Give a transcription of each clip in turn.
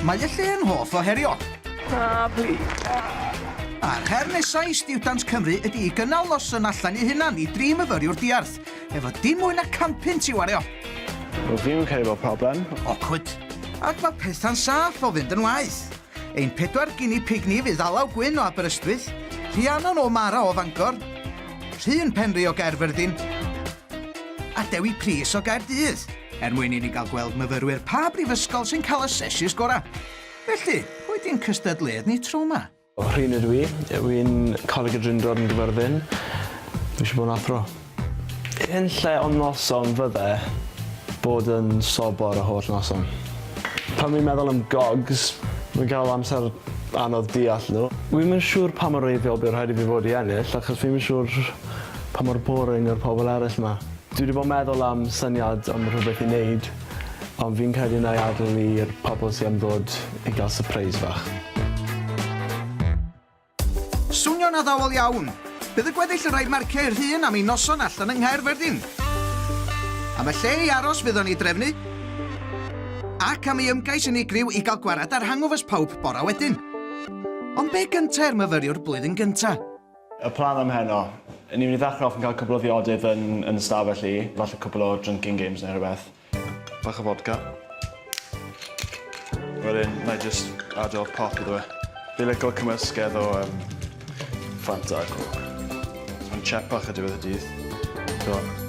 Mae y lle yn hoff o herio. Ah, bli. A'r her nesaf i Stiwdant Cymru ydy i gynnal noson allan i hunan i dri myfyriwr diarth, efo dim mwy na campyn ti wario. Wel, fi'n cael bod problem. Awkward. Ac mae pethau'n saff o fynd yn waith. Ein pedwar gini pig ni fydd Alaw Gwyn o Aberystwyth, Rhiannon o Mara o Fangor, Rhun Penri o Gaerfyrddin, a Dewi Prys o Gaerdydd er mwyn i ni gael gweld myfyrwyr pa brifysgol sy'n cael y seshis gorau. Felly, pwy di'n cystadleuadd ni tro 'ma? Rhun ydw i. Ydw i'n Coleg y Drindod yn Gyfyrddin. Dwi eisiau bod yn athro. Yn lle o noson fydde bod yn sobor y holl noson. Pan wi'n meddwl am gogs, wi'n cael amser anodd deall nhw. Wi'm yn siŵr pa mor wreiddiol bydd rhaid i fi fod i ennill achos fi'm yn siŵr Pa mor boring yw'r pobl eraill 'ma? Dwi 'di bod yn meddwl am syniad am rhywbeth i neud, ond fi'n credu wna i adael i'r pobl sy am ddod i gael sypreis fach. Swnio'n addawol iawn! Bydd y gweddill yn rhaid marcio eu rhun am eu noson allan yng Nghaerfyrddin. Am y lle i aros fydd o'n ei drefnu, ac am ei ymgais unigryw i gael gwared ar hangovers pawb bora wedyn. Ond be gynta i'r myfyriwr blwyddyn gynta? Y plan am heno. Ni'n mynd i ddechrau off yn cael cwpl o ddiodydd yn yn y stafell i, falle cwpl o drinking games neu rhywbeth. Bach o fodca. Wedyn na i jyst ado pop iddo fe. Fi'n lico cymysgedd o yym Fanta a Coke. Mae'n tsiep bach ar diwedd y dydd. T'mo'?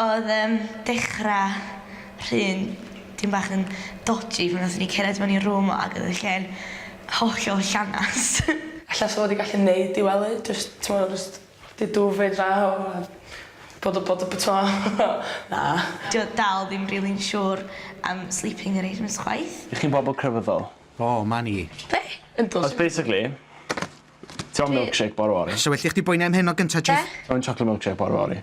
Odd yym dechra rhun tym bach yn dodji pan nathon ni cered mewn i room o ag odd y lle'n hollol llanast. Ella sa fo 'di gallu neud i wely jyst t'mo' jyst 'di dwfyd draw a bod y bod y b- t'mo'? Na. Dio dal ddim rili'n siwr am sleeping arrangements chwaith. Y'ch chi'n bobol crefyddol? O, 'ma ni. Be? Yndw. Os basically ti moyn milkshake bore fory. So well i chdi boeni am heno gynta Chief. Be? Ti moyn chocolate milkshake bore fory.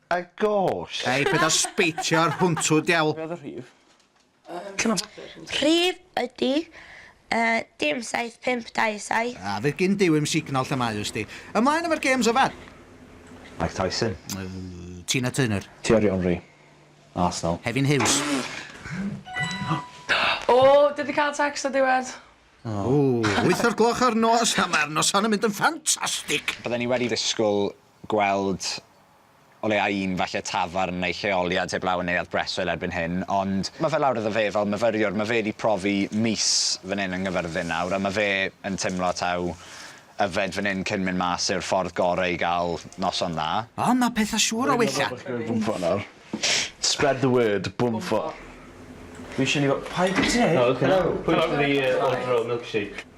A gosh! Hei, paid a sbeitio ar hwntw, diawl! Be oedd y rhif? Rhif ydy yy dim saith pump dau saith. A fydd gin Duw i'm signal lle mae ws di. Ymlaen efo'r gêms yfed! Mike Tyson. Tina Turner. Thierry Henry. Arsenal. Hefin Hughes. O, dwi di cael text o diwedd. Ww, wyth o'r gloch ar nos, a mae'r noson yn mynd yn ffantastig! Bydden ni wedi disgwyl gweld o leia' un falle tafarn neu lleoliad heblaw yn Neuadd Breswyl erbyn hyn, ond ma' fe lawr iddo fe fel myfyriwr, ma' fe 'di profi mis fan 'yn yng Nghyfyrddin nawr, a ma' fe yn timlo taw yfed fan 'yn cyn mynd mas yw'r ffordd gore i ga'l noson dda. Ond ma' petha siŵr o wella. Bwnffordd nawr. Spread the word, Bwnffordd. Fi isie ni fel, paid, ti neud? Helo. Helo. Pwy sy 'di ordro milkshake?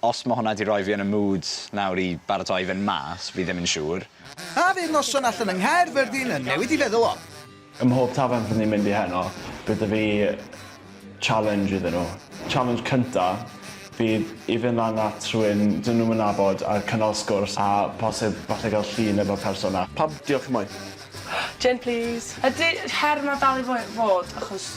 Os ma hwnna di roi fi yn y mood nawr i baratoi fynd mas, fi ddim yn siŵr. A fydd noson allan yng Nghaerfyrddin yn newid dy feddwl o? Ym mhob tafarn fyddwn ni'n mynd i heno, bydd 'da fi challenge iddyn nhw. Challenge cynta fydd i fynd lan at rhywun dyn nhw'm yn nabod a cynnal sgwrs a posib falle gael llun efo'r person 'na. Pam? Diolch y mae. Jane plîs. Ydy her 'ma dal i fod achos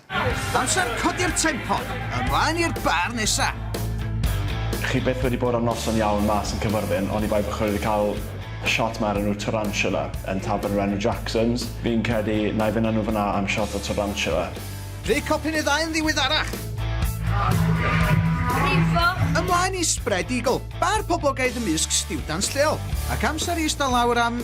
Amser codi'r tempo! Ymlaen i'r bar nesa! Chi byth wedi bod ar noson iawn mas yn Cyffyrddin oni bai bo chi wedi cael shot ma ar enw Tarantula yn tafern o'r enw Jackson's. Fi'n credu na'i fyn a nhw fynna am shot o Tarantula. Dwi copyn y ddau yn ddiweddarach! Brifo! Ymlaen i Spread Eagle, bar poblogaidd ymysg stiwdants lleol, ac amser i ista lawr am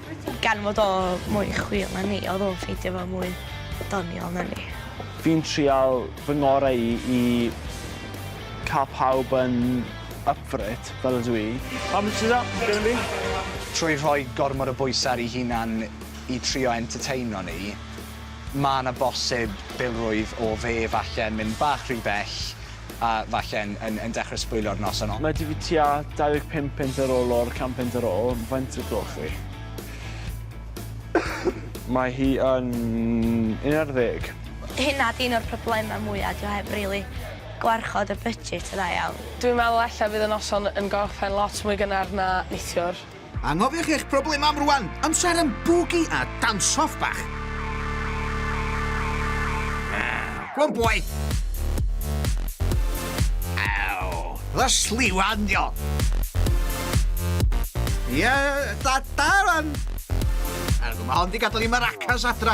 Gan fod o mwy chwil na ni, odd o'n ffeindio fo mwy doniol na ni. Fi'n trial fy ngore i i ca'l pawb yn up for it, fel ydw i. How much is that gonna be? Trwy rhoi gormod o bwyse ar 'i hunan i trio entertaino ni, ma' 'na bosib bilrwydd o fe falle yn mynd bach rhy bell, a falle yn, yn, yn dechrau sbwylio'r noson. Mae 'da fi tua 25 punt ar ôl o'r can punt ar ôl, faint o gloch fi? Mae hi yn un ar ddeg. Hynna 'di un o'r problemau mwya', 'di o heb rili gwarchod y budget yn dda iawn. Dwi'n meddwl ella fydd y noson yn gorffen lot mwy gynnar na neithiwr. Anghofiwch eich problemau am rwan! Amser am bwgi a dansoff bach! Go on boy! Aww! The sliwan dio! Ia, da, da rwan! Mae hon di gadael i maracas adra!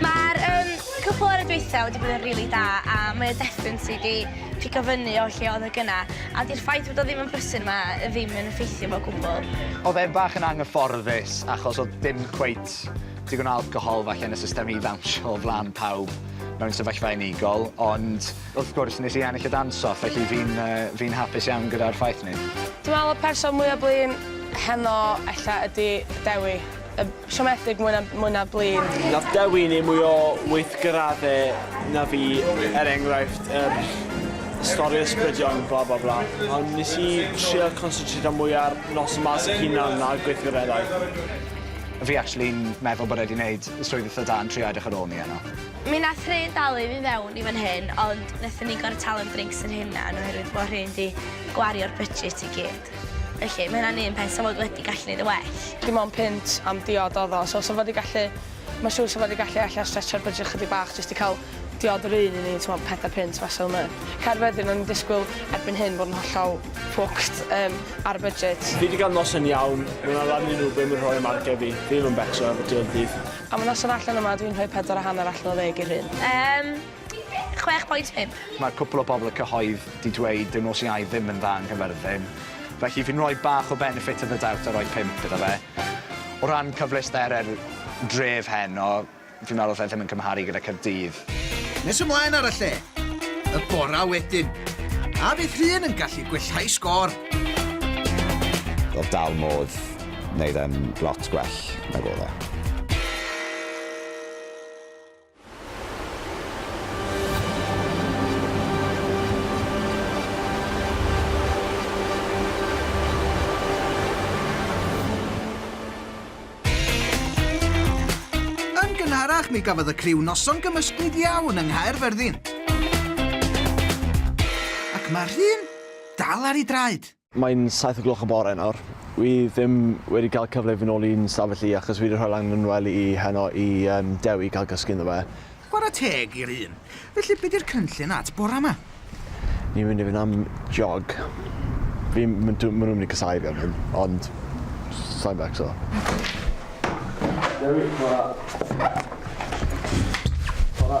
Mae'r um, cwpl ar y dweitha wedi bod yn rili really da a mae y deffyn sydd wedi pigo fyny o lle oedd y gyna a di'r ffaith bod o ddim yn brysyn yma ddim yn effeithio fo gwbl. Oedd e'n bach yn anghyfforddus achos oedd dim cweit digon o alcohol falle yn y system i ddawnsio o flaen pawb mewn sefyllfa unigol, ond wrth gwrs nes i ennill y danso, felly fi'n uh, fi hapus iawn gyda'r ffaith ni. Dwi'n meddwl y person mwyaf blin heno ella ydy Dewi, y Siomedig mwy na mwy na blin. Nath Dewi neu mwy o weithgaradde na fi er enghraifft yr stori ysbrydion bla bla bla ond nes i trio consytrito mwy ar nos y masg hunan na gweithgareddau. Fi actually'n meddwl bod e di neud swydd itha da yn trio edrych ar ôl ni yno. Mi nath rhên dalu fi fewn i fan hyn ond nethon ni gor'o' talu'n drinks yn hunan oherwydd bo' rhên di gwario'r budget i gyd. dod. Felly, mae hynna'n un peth 'sa fod wedi gallu neud yn well. Dim ond punt am diod odd o, so 'sa fo 'di gallu... Ma'n siŵr 'sa fo 'di gallu ella stretchio'r budget chydig bach jyst i ca'l diod yr un i ni, t'mod, pedair punt fasa fel 'na. Caerfyrddin, o'n i'n disgwyl erbyn hyn fod yn hollol fucked yym ar y budget. Fi 'di ga'l noson iawn, ma' 'na lan i Ruben yn rhoi ymargef i fi, fi ddim yn becso efo ti o'r dydd. Am y noson allan yma dwi'n rhoi pedwar a hanner allan o ddeg i'r rhun. Yym. 6.5. Mae cwpl o bobl y cyhoedd 'di dweud dyw nos Iau ddim yn dda yng Nghyfyrddin, felly fi'n rhoi bach o benefit of the doubt a rhoi 5 iddo fe. O ran cyfleustere'r dref heno, fi'n meddwl 'll e ddim yn cymharu gyda Caerdydd. Nes ymlaen ar y lle, y bora wedyn. A fydd Rhun yn gallu gwellhau sgôr? Wel, dal modd neud e'n lot gwell nag odd e. Yn gynharach, mi gafodd y criw noson gymysglyd iawn yng Nghaerfyrddin. Ac mae'r rhun dal ar ei draed. Mae'n saith o gloch y bore nawr. Wi ddim wedi cael cyfle i fyn ol i'n stafell i achos wi wedi rhoi lan yn well i heno i yym Dewi cael cysgu ynddo fe. Chwarae teg i'r un. Felly be di'r cynllun at bora ma? Ni'n mynd i fynd am jog. Fi m- ma' dw- ma' nhw'n mynd i casau fi am hyn ond sai'n becso. Dewi, chwara. Chwara.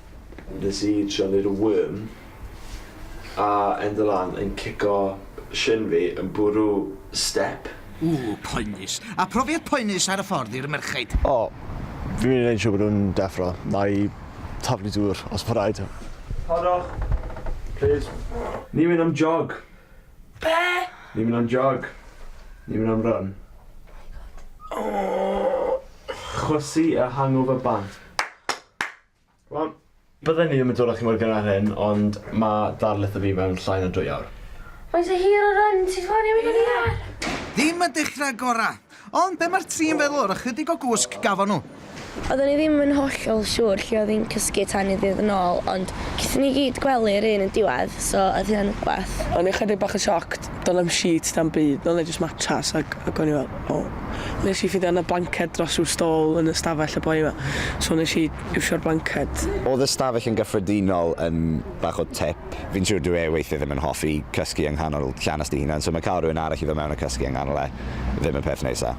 Nes i trio neud y worm a enda lan yn cico shin fi yn bwrw step. Ww, poenus. A profiad poenus ar y ffordd i'r merchaid? O, fi'n mynd i neud yn siŵr bod nhw'n deffro. Na'i taflu dŵr os bo raid. Harddwch, plîs. Ni'n mynd am jog. Be? Ni'n mynd am jog. Ni'n mynd am run. Chwysu y hangover bant. Wel, bydden i ddim yn dod â chi mor gynnar â hyn, ond mae darlith o fi mewn llai na dwy awr. Faint o hir o run ti'n ffonio fi fan hyn? Ddim y dechrau gorau! Ond be mae'r tri yn feddwl o'r ychydig o gwsg gafon nhw? Oedden ni ddim yn hollol siŵr lle oedd hi'n cysgu tan i ddydd yn ôl, ond gaethon ni gyd gwely yr un yn diwedd, so oedd hynna'n rhywbeth. O'n i ychydig bach yn shocked doedd na'm sheets na'm byd, oedd 'na jyst matras ac ac o'n i fel o. Nes i ffindio oedd 'na blanced dros ryw stall yn y stafell y boi 'ma so nes i iwsio'r blanced. Oedd y stafell yn gyffredinol yn bach o tip. Fi'n siŵr dyw e weithie ddim yn hoffi cysgu yng nghanol llanast ei hunan so ma' ca'l rywun arall i fod mewn a cysgu yng nghanol e ddim y peth neisa.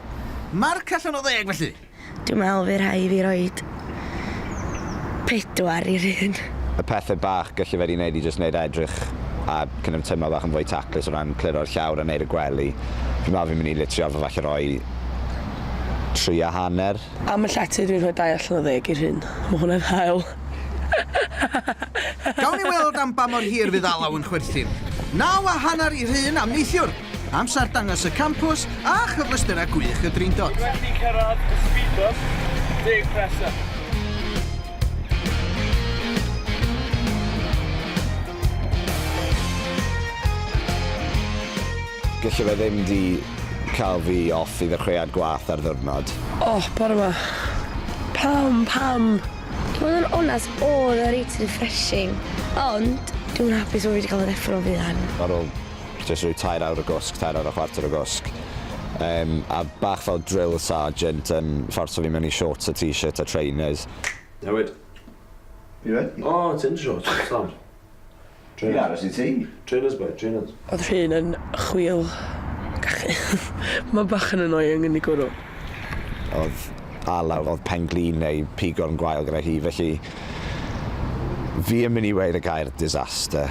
Marc allan o ddeg felly! Dwi'n meddwl fy rhai fi roid pedwar i'r un. Y pethe bach gyllu fe di neud i jyst neud e edrych a kind of teimlo bach yn fwy taclus o ran cliro'r llawr a neud y gwely. Fi'n meddwl fi'n mynd i litrio'r fo falle roi tri a hanner. Am y llety dwi'n rhoi dau allan o ddeg i'r un. Mae hwnna'n hael. Gawn ni weld am ba mor hir fydd alaw yn chwerthin. Naw a hanner i'r un am neithiwr. Amser dangos y campws a chyfleusterau gwych y Drindod. Dwi wedi cyrraedd y speed bump, deg Crescent. Gelle fe ddim di cael fi off i ddechreuad gwath ar ddiwrnod. Oh, bore ma. Pam, pam? I fod yn onest, oedd e reit refreshing, ond dwi'm yn hapus fod fi wedi cael fy ddeffro fuan. Ar ôl jyst rhoi tair awr o gwsg, tair awr a chwarter o gwsg. Um, a bach fel drill sergeant yn um, fforso fi mewn i shorts a t-shirt a trainers. Newid. Fi wedi. O, oh, ti'n shorts, Sam. Trainers. Fi aros i ti. Trainers, boy, trainers. Oedd rhywun yn chwil gachu. Mae bach yn annoying yn ei gwrw. Oedd alaw, oedd penglin neu pigorn gwael gyda hi, felly fi yn mynd i weir y gair disaster.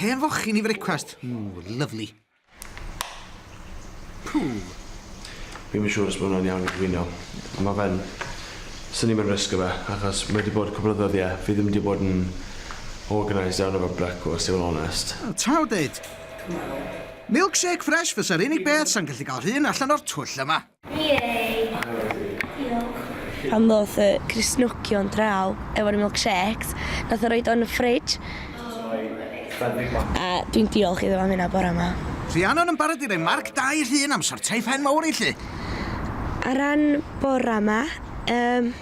Hen fochyn i frecwast. Ww, lyfli. Pŵl. Fi'm yn siŵr os ma' hwnna'n iawn i gwyno. Ond ma' fe'n... Swn i'm yn risgo fe, achos mae 'di bod cwpl o ddyddiau, fi ddim 'di bod yn organised iawn efo brecwast, i fod yn onest. Wel, ta wneud. Milkshake fresh fysa'r unig beth sa'n gallu cael rhun allan o'r twll yma. Pan ddoth y Cristnogion draw efo'r milkshakes, nath o roid o yn y fridge. A dwi'n diolch iddo am hynna bora 'ma. Rhiannon yn barod i roi marc da i Rhun am sortio'i phen mawr i llu. Ar ran bora 'ma, yym,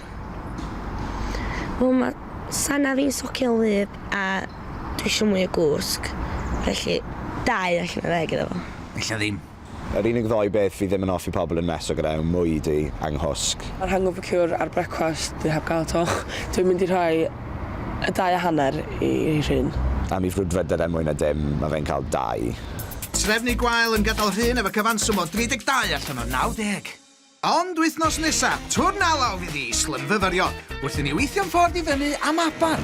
wel ma' Sana fi'n socian wlyb a dwi isio mwy o gwsg, felly dau allan o ddeg iddo fo. Ella ddim. Yr unig ddou beth fi ddim yn hoffi pobl yn meso gyda yw mwyd i a nghwsg. Yr hangover cure ar brecwast dwi heb gael to. Dwi'n mynd i rhoi y dau a hanner i Rhun. Am i frwdfrydedd er mwyn y dim, mae fe'n cael dau. Trefnu gwael yn gydol Rhun efo cyfanswm o 32 allan o 90. Ond wythnos nesa, twrn alaw fydd i islymfyfyrio wrth i ni weithio'n ffordd i fyny am Abar.